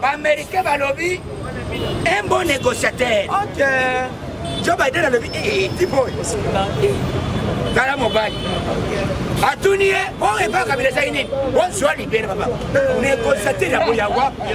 baaméricain balobi un bon négociateur okay. joe biden alobi eh, eh, tiboy tala mobali atuni ye o epa kabila ezali nini ozwa libele baba négociateur yango ya wapi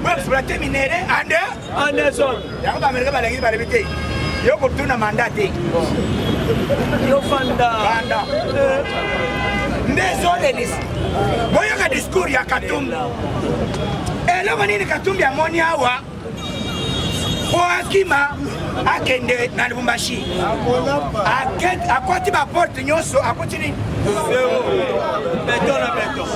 mpo exploite minere ande anderson yango baamerika balakisi balebi te yo kotuna manda te yo fanda fanda eh. nde ezolelis boyoka discours ya katumbi eloko nini katumbi amoni awa mpo akima akende na lubumbashi akwati baporte nyonso akuti nini beton na beton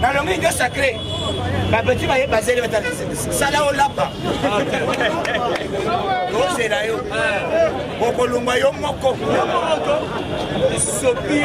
nalongi nde sacré babeti baye bazeli sala olapa ozela yo okolongwa yo moko sopi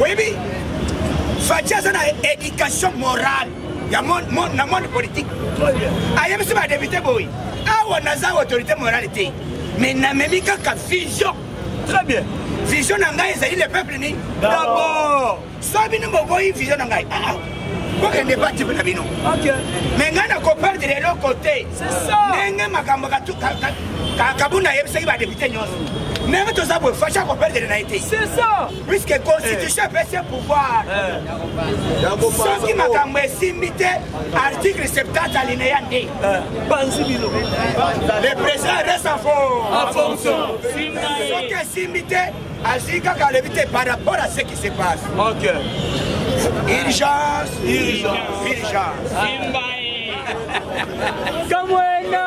oyebi faci aza na éducation morale ya na monde politique ayebisi badepute boye awa naza autorité morale te mais namemi kaka vision très bien vision na ngai ezali le peuple nini dabord so bino boboyi vision na ngai ah, ah. bokende batipe na bino me ngai nakoperdre eloko te ndenge makambo kabunda ayebisaki badepute nyonso ndenge toza boye fashi akoperdele na ye te puiske constitution epesi ye pouvoir soki makambo esimbi te article 70 alineya nde banzi bino le président reste en fonction soki esimbi te azwi kaka alobi te par rapport à ce qui se passe ok urgence urgence urgence kamwena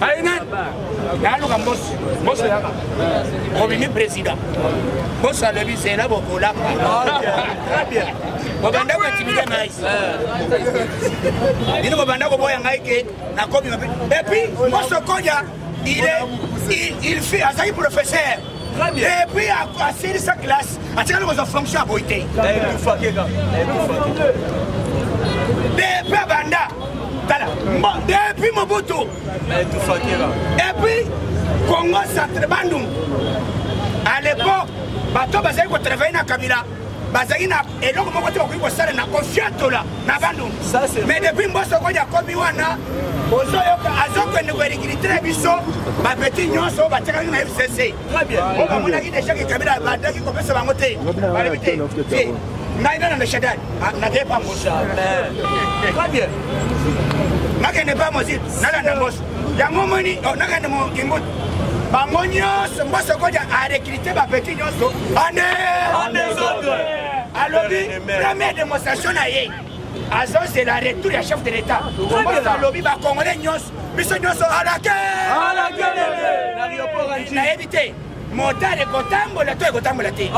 aina naluka mbosi mbosi yaka obimi président mbosi alobi zela bokolaka bobanda kotimide ngai bino bobanda koboya ngai ke nakomi mabe epuis mbosi okoya il est il, il fait azali professeur et puis asilisa classe atikali kozwa fonction ya boyi te depe abanda tala depuis mobutu et puis congo centre bandungu à l'époque bato bazali kotravaille na kabila bazali na eloko moko te bakoki kosala na kofiatola na bandundu mais depuis mboso kodi akomi wana ozoyoka azokende koelikilite na biso bapeti nyonso oyo batiakaki na fcc oyo bamonaki deja kekabila badaki kopesa bango te balobi te te ngai nana na shadan nakepa mboso nakende pa mozil nalanda mboso yango omoni oh, nakende mokimbutu bango nyonso mboso kodia arekrite bapeti nyonso ane alobi première démonstration na ye azozela retour ya chef de l'état mboso alobi bacongolais nyonso biso nyonso alake nayebi te motare ekotambola to ekotambola te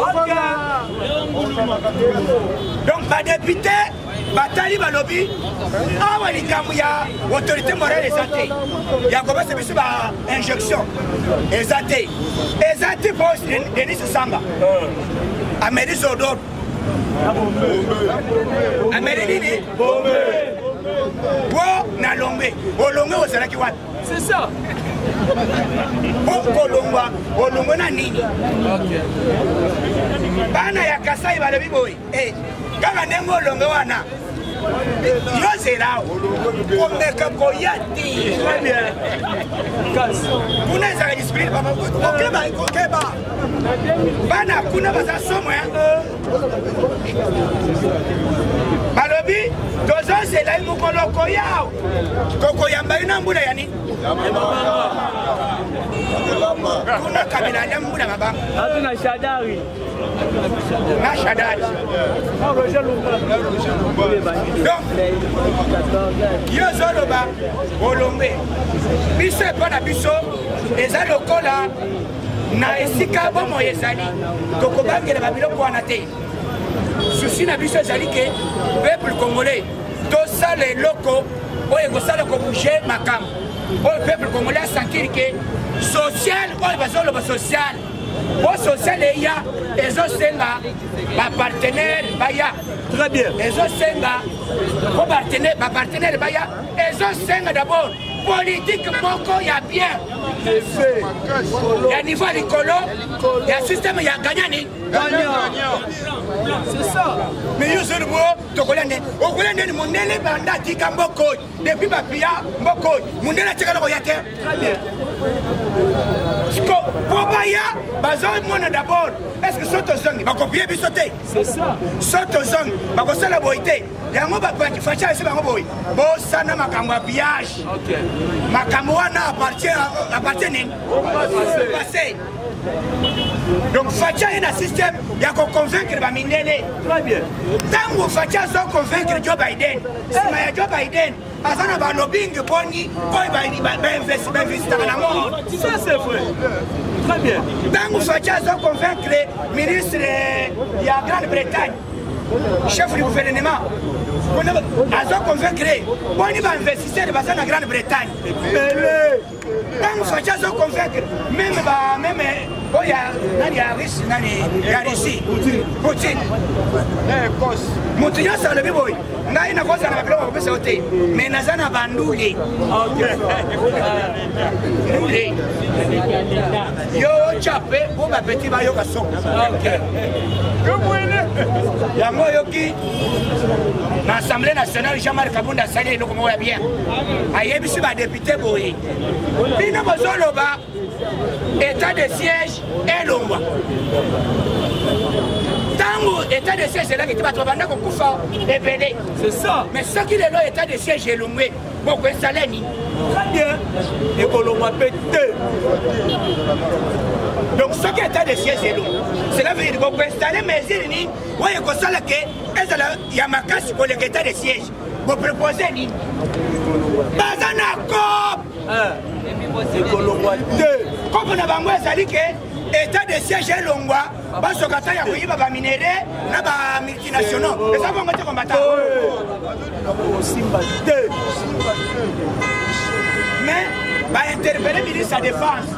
donc badepute batali balobi awa likambo ya autorité morale eza te ya kobesa biso ba injection eza te eza te po denis samba ameli zodor ameli nini po na lombe olombe ozalaki wapi C'est ça. okolongwa olongwe na nini bana ya kasai balobi boye eh, kaka ndenge olonge wana yozela komeka koya te kuna ezala discipline kokeba kokeba bana kuna baza somo balobi tozozela ye mokolo koyao kokoyamba ye na mbula ya nini kuna kabila anda mbula mabanga atu na shadari na shadari donc yo ozoloba olombe biso epa na biso eza lokola na esika bomoi ezali tokobangela babiloko wana te susi na biso ezali ke peuple congolais tosala eloko oyo ekosala kobouge makambo oyo peuple congolais asentir ke social oyo bazoloba social po social eya ezosenga bapartenaire baya très bien ezosenga po bapartenaire baya ezosenga d'abord politike moko ya bien ya niveau ya likolo ya systeme ya gagnani tokolia nde okolia ndeni mondele banda atika mboka oyo depuis bapia mboka oyo mondele atikala koya te siko mpo baya bazomona dabord estce so tozongi bakopie biso te so tozongi bakosala boye te yango facha esi bango boye bosana makambo ya pillage makambo wana appartient nini donc facha ye na système ya koconvaincre bamindele ntango facha azo convaincre joe biden nsima ya joe biden aza na balobingi boni oyo bainvestitaka na monde ntango facha azo convaincre ministre ya grande bretagne chef du gouvernement azo convaincre boni bainvestisseur baza na grande bretagne ntango faci azo convaincre meme ba meme oyo ya nani ya russi nani ya russie poutine eh, moto nyonso alobi boye ngai nakozala na babiloko bakopesa yo te me naza na bandule ndule yo ocape mpo bapeti bayoka soko yango oyoki na assemblée nationale jean marc kabunda asali eloko moko ya bien ayebisi badepu te boye bino bozoloba état de siège elongwa ntango état de siège elaki te bato babanda kokufa ebele mais soki lelo état de siège elongwe bokoesala nini très bien ekolongwa mpe te donc soki état de siège elongwa cela veut dire bokoinstalle mesure nini oyo ekosala ke ezala ya makasi koleka état de siège bopropose nini baza na cop eh, ekolongwa te kopo na bango ezali ke état de siège elongwa basoka ta ya koyiba baminere na bamultinationaux eza bongo te kombata osimba te mais bainterpele ministre ya défense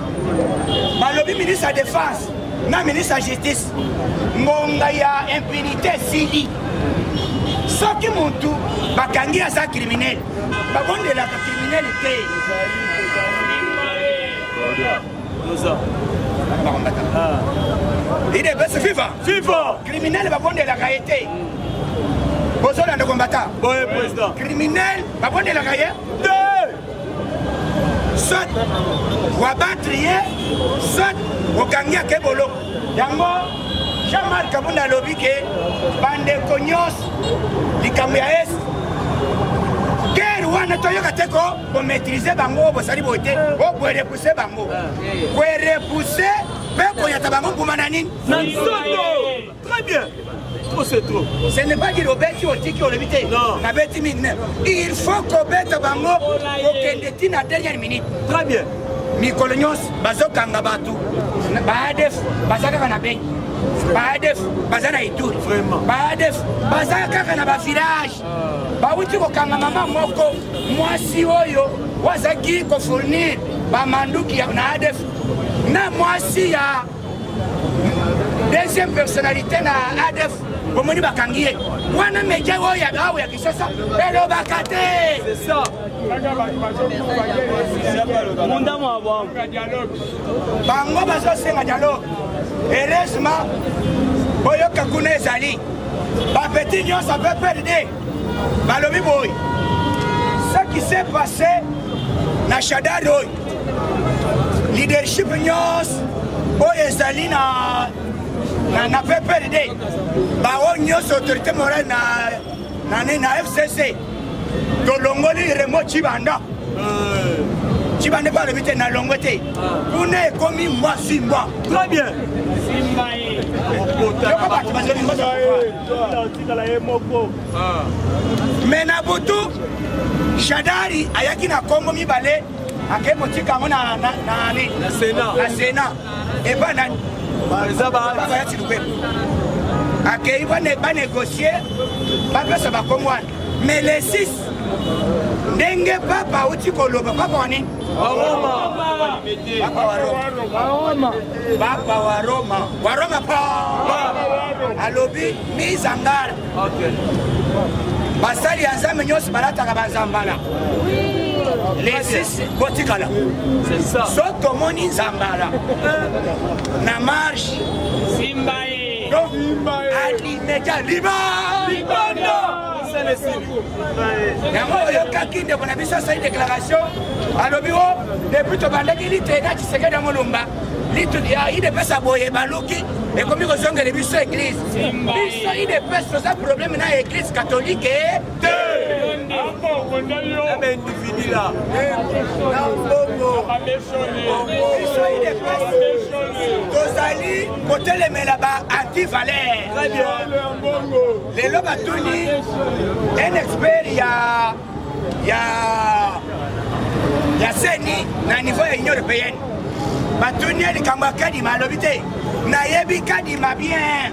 balobi ministre ya défense na ministre ya justice ngonga ya impunité esili soki mutu bakangi aza criminel babondelaka criminel te ide bese viva viva criminel babondelaka ye te bozolanda kombata criminel babondelaka ye te soit wabatri ye soit okangi ake boloko yango jean marc abunda alobi ke bandeko nyonso likambo ya est guerre wana toyoka te ko bomaîtrise bango bosali boye te okoerepuse bango koerepuse mpe konyata bango mbuma na nini na nzoto Très bien. Trop c'est trop. Ce n'est pas dire obeti otiki olobi te. Non. Na beti mingi même. Il faut kobeta bango okende ti na dernière minute. Très bien. Mikolo nyonso bazokanga bato baadef baza kaka na bengi baadef baza na ituri baadef baza kaka na bavillage ah. bawuti kokanga mama moko mwasi oyo wazaki kofournir bamanduki na adef na mwasi ya deuxième personnalité na adf bomoni bakangi ye wana media oyo awa ya kinshasa elobaka te bango bazosenga dialogue heureusement boyoka kuna ezali bapeti nyonso ape perde balobi boye ce qui s'est passé na shadari oyo leadership nyonso oyo ezali na na, na pprd baoyo nyonso autorité morale na, na, na fcc tolongoli remo cibanda euh. cibanda mpe alobi te nalongo te kuna ekomi mbwa simbwa très bien me na butu shadari ayaki na kongo mibale akei kotika yango na sena epa nani bayati lubembo akei banegocie bapesa bakongo wana mais le 6 ndenge papa auti koloba papa wa nini papa wa roma papa wa roma wa roma pa alobi mise en garde basali ya nzambe nyonso balataka banzambala lesis botikala so tomoni nzambala na marche simba ye media liba libondo mosala esili yango oyokaki ndeko na biso asali déclaration alobi o depuis tobandaki lite na tshisekedi ya molumba idepesa boye baluki ekomi kozongela biso eglise biso idepesa toza probleme na eglise katolike tozali kotelemela ba antivaler lelo batuni un expert ya ya ya seni na niveau ya union européenne batuni ye likambo ya kadima alobi te nayebi kadima bien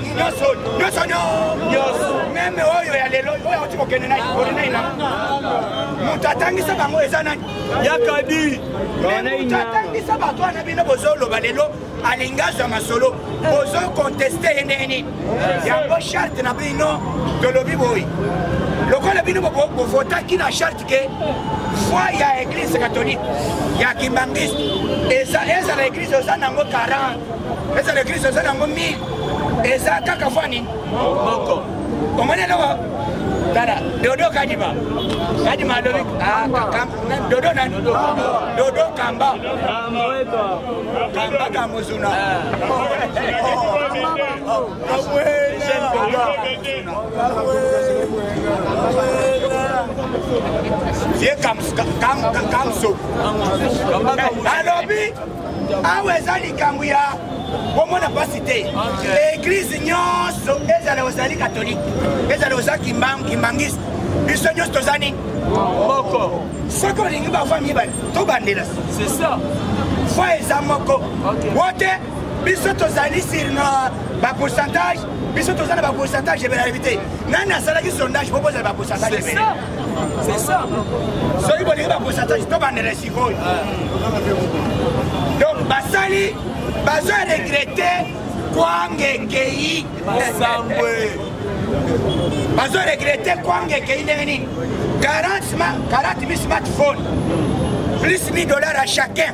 nyonso nyonso nyonso meme oyo ya lelo oyo auti kokende na ikoli na ina moto atangisa bango eza nani yakadi moto atangisa bato wana bino bozoloba lelo alingi azwa masolo bozokonteste ye ndenge nini yango charte na bino tolobi boye lokola bino bovotaki na charte que foi ya église catholique ya kimbangiste ezala église oza nango 40 ezala église oza nango 1000 eza kaka foi nini moko omoni eloko tala dodo kadima kadima alobi ah, dodo nani dodo kamba kamba kamuzuna ah. ye kamso alobi awa eza likambo ya komona mpasi te eglize nyonso ezala ozali katolike ezala oza kimbangiste biso nyonso toza nini moko soki olingi bafami mibale tobandela foi eza moko wote biso tozali sur na bapourcentage biso toza na bapourcentage ebele alebi te nani asalaki sondage po bozala bapourcentage ebele soki bolingi bapourcentage tobandela sikoyo donc basali bazo regrete kwangekei bazo regrete kwangekei ndenge nini 40 mi smartphone plus 1000 dollars à chacun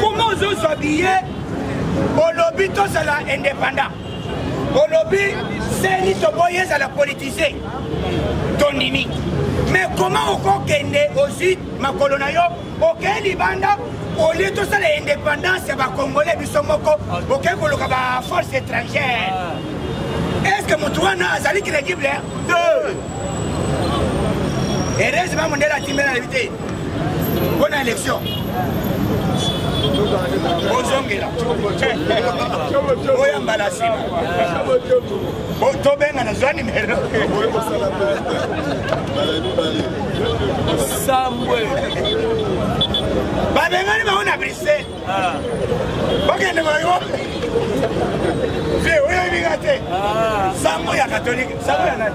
Comment ozozwa biye olobi tozala indépendant olobi seni toboyi ezala politise tondimi mais comment okokende ozwi makolo na yo okei libanda olie tosala indépendance ya bacongolais biso moko okei koluka baforce étrangère ah. est ce que motu wana azali crédible heureusement mondele atimela yebi te mpo na élection ozongela oya mbala nsima tobenga na zwa nimero sambwe babengani bango na bruxelles ah. bakende bayo vie oyo ebinga te ah. sango ya katolike sango ya nani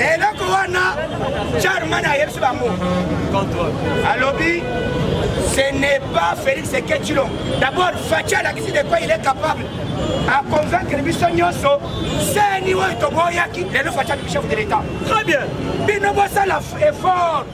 eloko wana charman ayebisi bango alobi ce n'est pas félix eketilo d'abord faci alakisi de quoi il est capable aconvaincre biso nyonso seni oyo toboyaki lelo faci abimi chef de l'état très bien bino bosala effort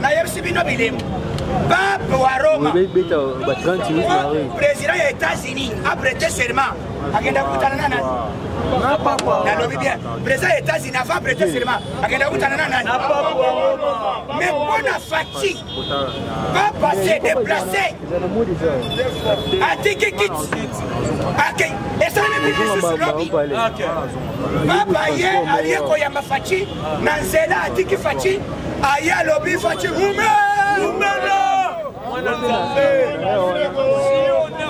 nayebisi bino bilembo pape wa roma président ya états-unis aprete serment akenda kutana na nani nalobi bien président ya états-unis avant aprete serment akenda kutana na nani mais mpona fatigue papa se déplace atiki kiti akei esalemi bilisusu lobi papa ye aye koyamba faci na nzela atiki faci aye alobi faci rume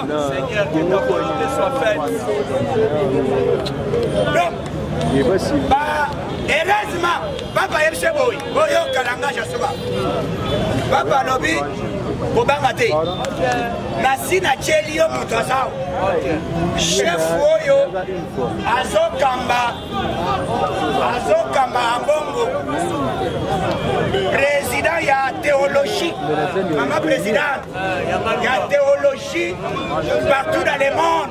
Seigneur, que ta volonté soit faite. Donc, bah, heureusement, papa ayebisi ye boye boyoka langage ya soba papa alobi kobanga te nasi natyeli yo moto azao chef oyo azokamba azokamba ambongo président ya théologie mama président ya théologie partout dans le monde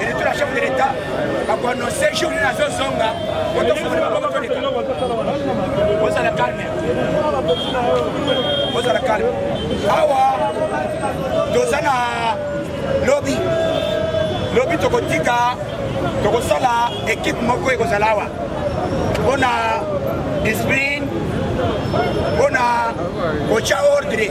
eleki na chef de l'etat bakoannonce jour nini azozonga ozala calme ozala calme awa toza na lobi lobi tokotika tokosala ekipe moko ekozala awa mpona discipline mpona kotya ordre